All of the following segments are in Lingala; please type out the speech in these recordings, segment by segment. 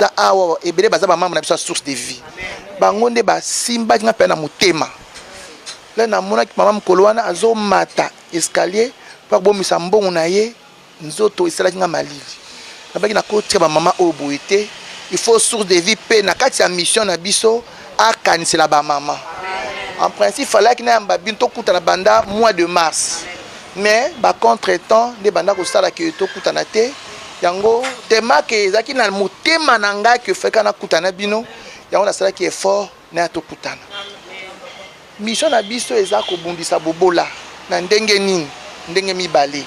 ta awa ah, ebele baza bamama na biso ya source de vie bango nde basimbaki nga mpena na motema le namonaki mama mokolo wana azomata escalier mpo akobomisa mbongo na ye nzoto esalaki nga malili Nabaki na kotika ba mama oyo boye te. Il faut source de vie pe na kati ya mission na biso akanisela ba mama. En principe falaki na yamba bino tokutana banda mois de mars. Mais ba contretemps nde banda kosala ke tokutana te. Yango tema ke ezaki na motema na ngai ke feka nakutana bino. Yango nasalaki effort na ya tokutana. Mission na biso eza kobundisa bobola. Na ndenge nini? Ndenge mibale.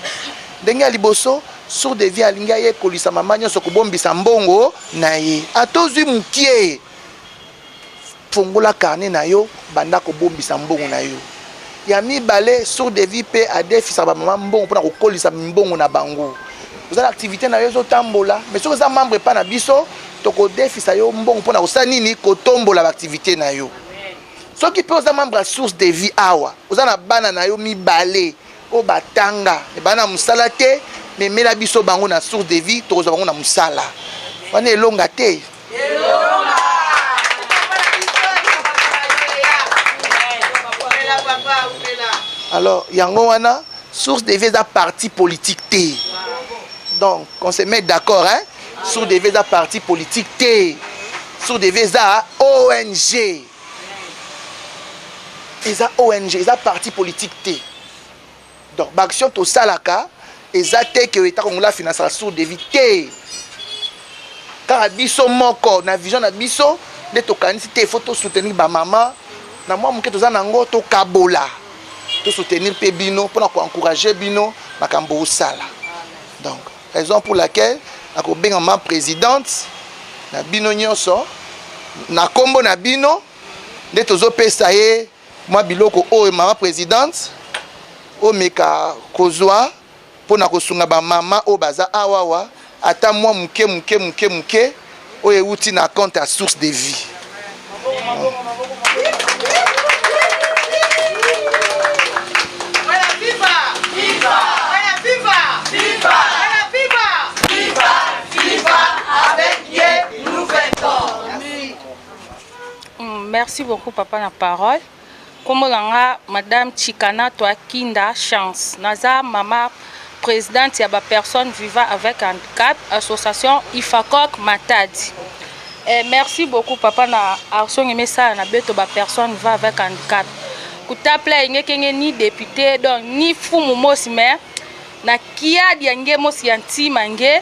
Ndenge ya liboso, sourd de vie alingi ayekolisa mama nyonso kobombisa mbongo na ye. Ata ozwi mokie, fongola carnet na yo, banda kobombisa mbongo na yo. Ya mibale, sourd de vie mpe adefisa bamama mbongo mpo na kokolisa mbongo na bango. Oza na activité na yo ezotambola, mais soki oza membre epai na biso, tokodefisa yo mbongo mpo na kosala nini? Kotombola baaktivité na yo. soki mpe oza membre ya source de vie awa oza na bana na yo mibale oyo batanga me bana na mosala te memela biso bango na source de vie tokozwa bango na mosala wana elonga te alors yango wana source de vie eza parti politique te donc on se met d'accord hein Sourd TV eza parti politique te. Sourd TV eza ONG. Eza ONG, eza parti politique te. Donc ba action to salaka eza te que eta kongola finance la Sourd TV te. Kaka biso moko na vision na biso nde tokanisi te faut to soutenir ba maman na mwa moke toza nango tokabola to soutenir mpe bino mpona ko encourager bino makambo osala donc Raison pour laquelle nakobenga ma presidente na bino nyonso na nkombo na bino nde tozopesa ye mwa biloko oyo mama presidente omeka kozwa mpo na kosunga bamama oyo baza awawa ata mwa moke moke moke moke oyo euti na compte ya source de vie Merci beaucoup, papa, la parole. Kombo na nga madame Chikana Twa Kinda Chance. Naza mama presidente ya ba personnes vivant avec handicap association Ifacoc Matadi. Eh, merci beaucoup papa na arsongi mesala na beto ba personnes vivant avec handicap. Kutapla engekenge ni député donc ni fumu mosi mais na kiadi ya nge mosi ya ntima nge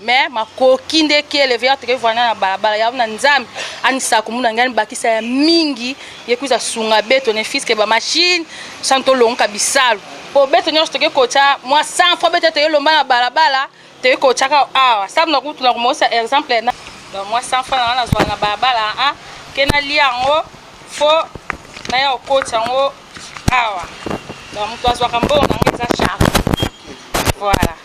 mais makoki nde ki eleve ya toke vana na balabala ya na nzambe anisa komuna ngai bakisa ya mingi ye kuza sunga beto ne fiske ba machine santo lonka bisalu po beto nyonso toke kocha mwa 100 fois beto toye lomba na balabala toye kocha ka awa sabu na kutu na komosa exemple na ba mwa 100 fois na wana zwa na balabala a ah, ke na lia yango fo na ya kocha yango awa donc moto azwaka mbongo na ngai eza charge voilà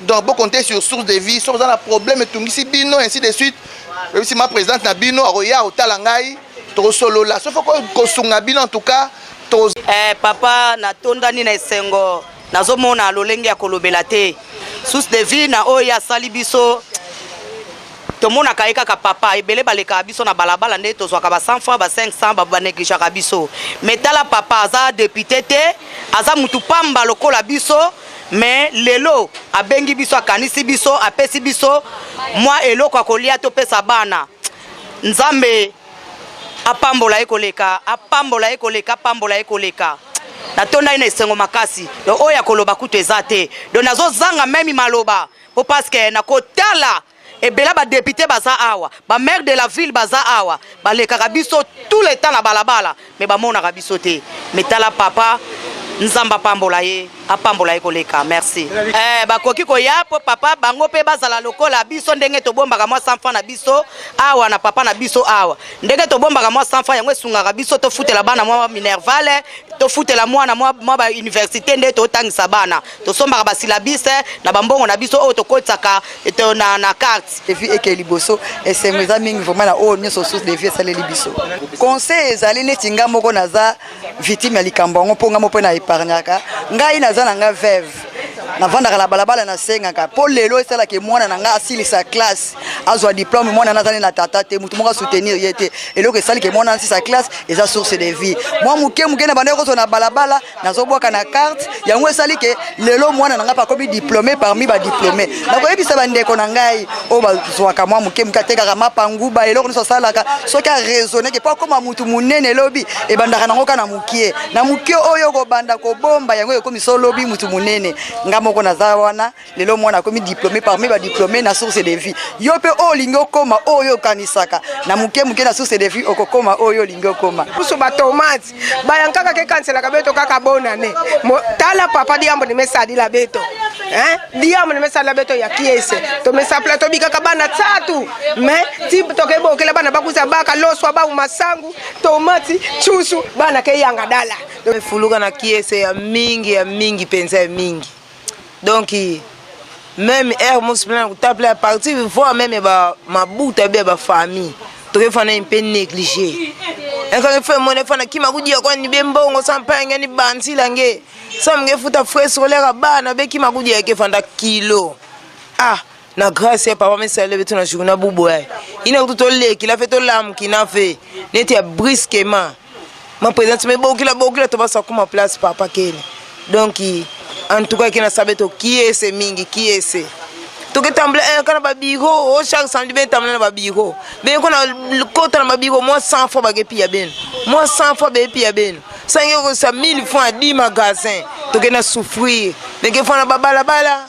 donc bo compter sur source de vie soki oza na problème etungisi bino ainsi de suite oyebisi ma présidente na bino akoya otala ngai tokosolola soki kosunga bino en tout cas to eh, papa natondani na esengo nazomona lolenge ya kolobela te source de vie na oyo asali biso tomonaka ye kaka papa ebele balekaka biso na balabala nde tozwaka ba 100 franc ba 500 banegligeaka biso me tala papa aza depute te aza mutu pamba lokola biso mais lelo abengi biso akanisi biso apesi biso mwa eloko ya kolia topesa bana nzambe apambola ye koleka apambola ye koleka apambola ye koleka natonda ye na esengo makasi donc oyo ya koloba kutu eza te donc nazozanga meme maloba po parceke nakotala ebela ba depute baza awa ba maire de la ville baza awa balekaka biso tout le temps na balabala me bamonaka biso te me tala papa nzambe apambola ye apambola ye koleka merci eh, bakoki koya mpo papa bango mpe bazala lokola biso ndenge tobombaka mwa sanfa na biso awa na papa na biso awa ndenge tobombaka mwa sanfa yango esungaka biso tofutela bana mwa minervale tofutela mwana mwa bauniversité nde totangisa bana tosombaka basilabise na bambongo na biso oyo tokotisaka na, na carte evi eke liboso esengo eza mingi vraimen na oyo nyonso source de vie esaleli biso conseil ezali neti ngai moko naza victime ya likambo yango mpo ngai mo mpe na epargnaka ngai naza na ngai veve navandaka na balabala nasengaka mpo lelo esalaka mwana na ngai asilisa classe azwa diplome mwana na azali na tata te motu moko asoutenir ye te eloko esalike mwana asisa classe eza source de vie mwa moke moke na bandaki kozwa na balabala nazobwaka na carte yango esali ke lelo mwana na ngai akomi diplome parmi badiplome nakoyebisa bandeko na ngai oyo bazwaka mwa moke moke atekaka mapanguba eloko nyonso asalaka soki araisonne ke mpo akóma motu monene lobi ebandaka nango ka na mokie na mokie oyo okobanda kobomba yango ekomi so lobi motu monene ngai moko naza wana lelo mwana akomi diplome parmi badiplome na source de vie yo mpe oyo olingi okoma oyo okanisaka na moke moke na source de vie okokoma oyo olingi okoma kusu batomati bayankaka kekanselaka beto kaka bonane tala papa diambo nimesalila beto diambo nimesalila beto ya kiese tomesapela tobikaka bana tatu me ti tokebokela bana bakuza baka loswa bauma sangu tomati cusu bana keyanga dala efuluka na kiese ya mingi ya mingi mpenza ya mingi donc meme heure mosi mpena na kotapela partir voir meme ba mabuta bia bafamille tokefana ye mpe néglige ekange fe mone fana kima kudia kwani be mbongo sampange ni banzila nge samge futa frais scolaire bana be kima kudia ke fanda kilo ah na grace ya papa mesala lobi tona journa buboya ina kutu tolekila fe tolamukina fe neti ya brisquement ma présence me bokila bokila tobasa kuma place papa kene donc en tout cas kena sabe to kiese mingi kiese toketambula eh, kana babiro o oh, chaque samedi betambula na babiro bene kona kota na babiro mwa 100 fois bakepiya beno mwa 100 fois bepiya beno sangi okosa 1000 fois 10 magasin tokenda souffrir meke fana babalabala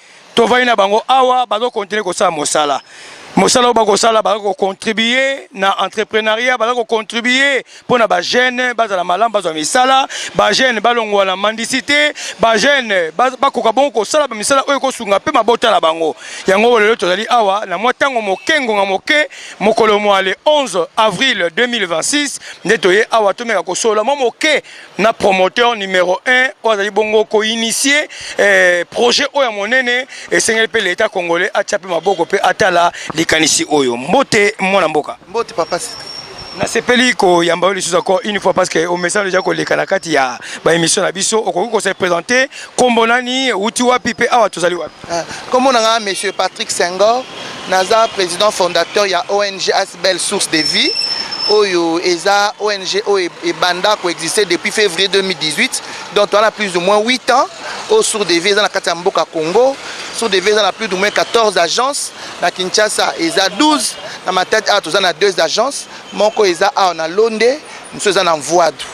tovandi na bango awa bazo continuer kosala mosala mosala oyo bakosala baza kocontribue na entreprenariat baza kocontribue mpo na bajeune bazala malamu bazwa misala bajeune balongwa na mandisite bajeune bakoka bongo kosala bamisala oyo ekosunga mpe mabota na bango yango lelo tozali awa na mwa ntango moke ngonga moke mokolo mwa le 11 avril 2026 nde toye awa tomeka kosolola mwa moke na promoteur numero 1 oyo azali bongo koinitie eh, projet oyo ya monene esengeli mpe leta congolais atya mpe maboko mpe atala likanisi oyo mbote mwana mboka mbote papa sita nasepeli koyamba yo lisusu encore une fois parce que omesana deja koleka na kati ya baémission na biso okoki kose présente nkombo nani outi wapi mpe awa tozali wapi ah, nkombo na ngai monsieur patrick sengor naza président fondateur ya ong Belle source de vie oyo eza ONG oyo ebanda ko exister depuis février 2018 donc toza na plus ou moins 8 ans oyo source de vie eza na kati ya mboka Congo source de vie eza na plus ou moins 14 agences na Kinshasa eza 12 na Matadi awa toza na deux agences moko eza awa na Londe mosusu eza na Mvuadu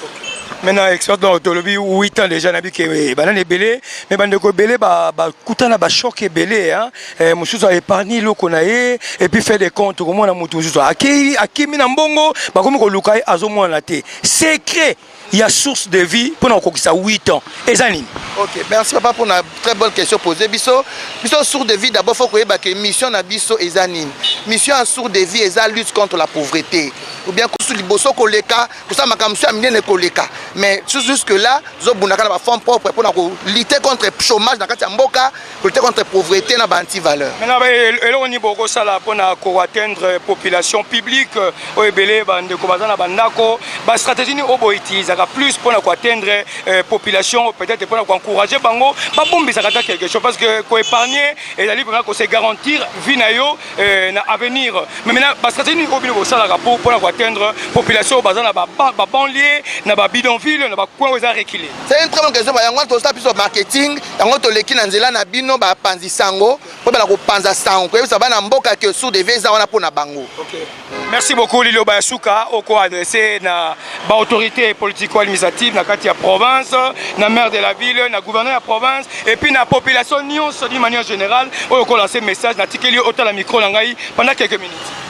maintenant expérience donc tolobi 8 ans déjà nayebi ke ebanda na ebele mais bandeko ebele bakutana bachoc ebele hein eh, mosusu aépargne eloko na ye epuis fait de compte okomona motu mosusu akei akimi na mbongo bakomi koluka ye azomonana te secret ya source de vie mpo na kokokisa 8 ans eza nini ok merci papa mpo na très bonne question posé biso biso source de vie d'abord faut koyeba ke mission na biso eza nini mission ya source de vie eza lutte contre la pauvreté ou bien kusu liboso koleka kosala makambo mosusu ya minene koleka mais jusque là zobundaka na bafonds propre mpo na kolite contre chômage na kati ya mboka lutter contre pauvreté na ba antivaleur maintenant ba eloko nini bokosala mpo na koatteindre population publique euh, oyo ebele bandeko baza na bandako bastratégie nini oyo boutilisaka plus mpo na koatteindre euh, population peut-être mpo na koencourage bango babombisaka ata quelque chose parce que koépargne ezali mpenza kose garantir vie na yo euh, na avenir mais maintenant bastratégie nini oyo bino bosalaka mpo mpo na koatteindre population oyo baza na babanlie na babidonville na bacoin oyo eza reculer c'est une très bonne question yango wana tosala biso marketing yango toleki na nzela na bino bapanzi sango mpo bana kopanza sango koyebisa bana mboka ke sour de vie eza wana mpo na bango okay. merci beaucoup liloba ya suka oko adresse na baautorité politico administrative na kati ya province na maire de la ville na gouverneur ya province epuis na population nyonso d'une manière générale oyo okolanse message natikeli yo otala micro na ngai pendant quelques minutes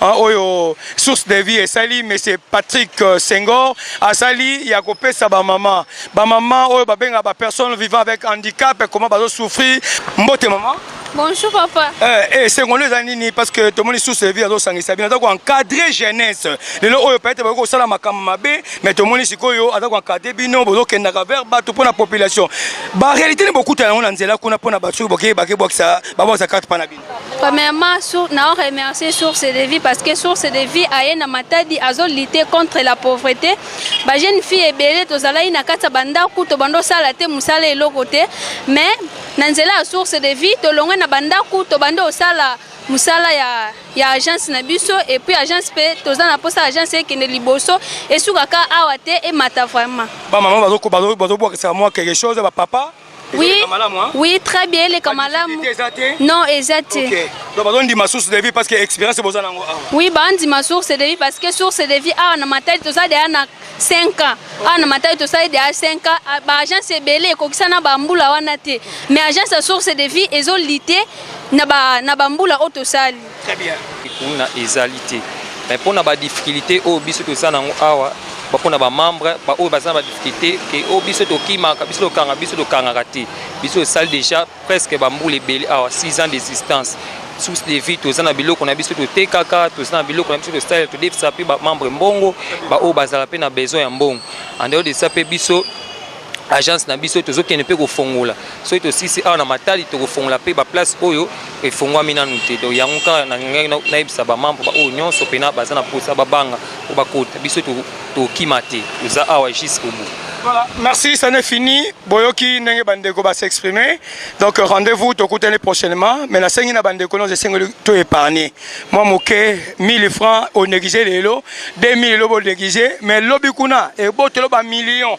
Hein, oyo source de vie esali monsieur Patrick euh, Senghor asali ya kopesa ba maman ba maman oyo babenga ba personnes vivant avec handicap comment bazo souffrir mbote maman Bonjour papa. Eh, eh sengolo eza nini parce que tomoni source de vie azosangisa bino aza koencadre jeunesse lelo oyo peut-être bakoki kosala makambo mabe mais tomoni sikoyo aza koencadre bino bozokendaka vers bato mpo na population baréalité nde bokuta yango na nzela kuna mpo na bato soki bokei bakebwakisa babwakisa carte mpa na bino Premièrement, sur, na remercier Source de Vie parce que Source de Vie aye na matadi azo lutter contre la pauvreté. Ba jeune fille ebele tozalaki na kati ya bandako to bando sala te musala eloko te mais na nzela ya Source de Vie tolongwe na bandako to bando osala musala ya ya agence na biso et puis agence pe toza na posa agence ekende liboso esukaka awa te emata vraiment. Ba maman bazo bazo bazo bwakisa mwa quelque chose ba papa Oui, oui, très bien, les Kamalam. Non, exact. Ok. Donc, on dit ma source de vie parce que l'expérience est bonne. Oui, bah, on dit ma source de vie parce que source de vie, ah, on a ma tête, tout ça, derrière, 5 ans awa na matali tosali deya 5 ans ah, baagence ebele ekokisana bambula wana te mais agence ya source de vie ezolite na bambula oyo tosali Très bien. Kuna ezali te. Mais mpo na ba difficultés oyo biso toza nango awa bapona ba membre baoyo baza na ba difficulté ke o oh, biso tokimaka biso tokanga biso tokangaka te biso tosali déjà presque bambula ebele awa 6 ans d'existence source de vie toza na biloko na biso totekaka toza na biloko na biso tosalela todefisa mpe bamembre mbongo baoyo bazala mpe na besoin ya mbongo andeo desa mpe biso agence na biso tozokende mpe kofongola soki tosisi awa na matali tokofongola mpe baplace oyo efongwami nanu te donc yango kaka nangaki nayebisa bamambre baoyo nyonso mpena baza na mposa babanga mpo bakota biso tokima te toza awa jus obo Voilà, merci, ça n'est fini. Boyoki Nenge Bandeko va s'exprimer. Donc rendez-vous, Tokuten les prochainement. Mais la Sengina Bandeko, non, je sais que tout épargné. Moi, Moké, 1000 francs, on négligé les lots, 2000 lots, on négligé. Mais l'obikuna, et bon, tu l'as millions.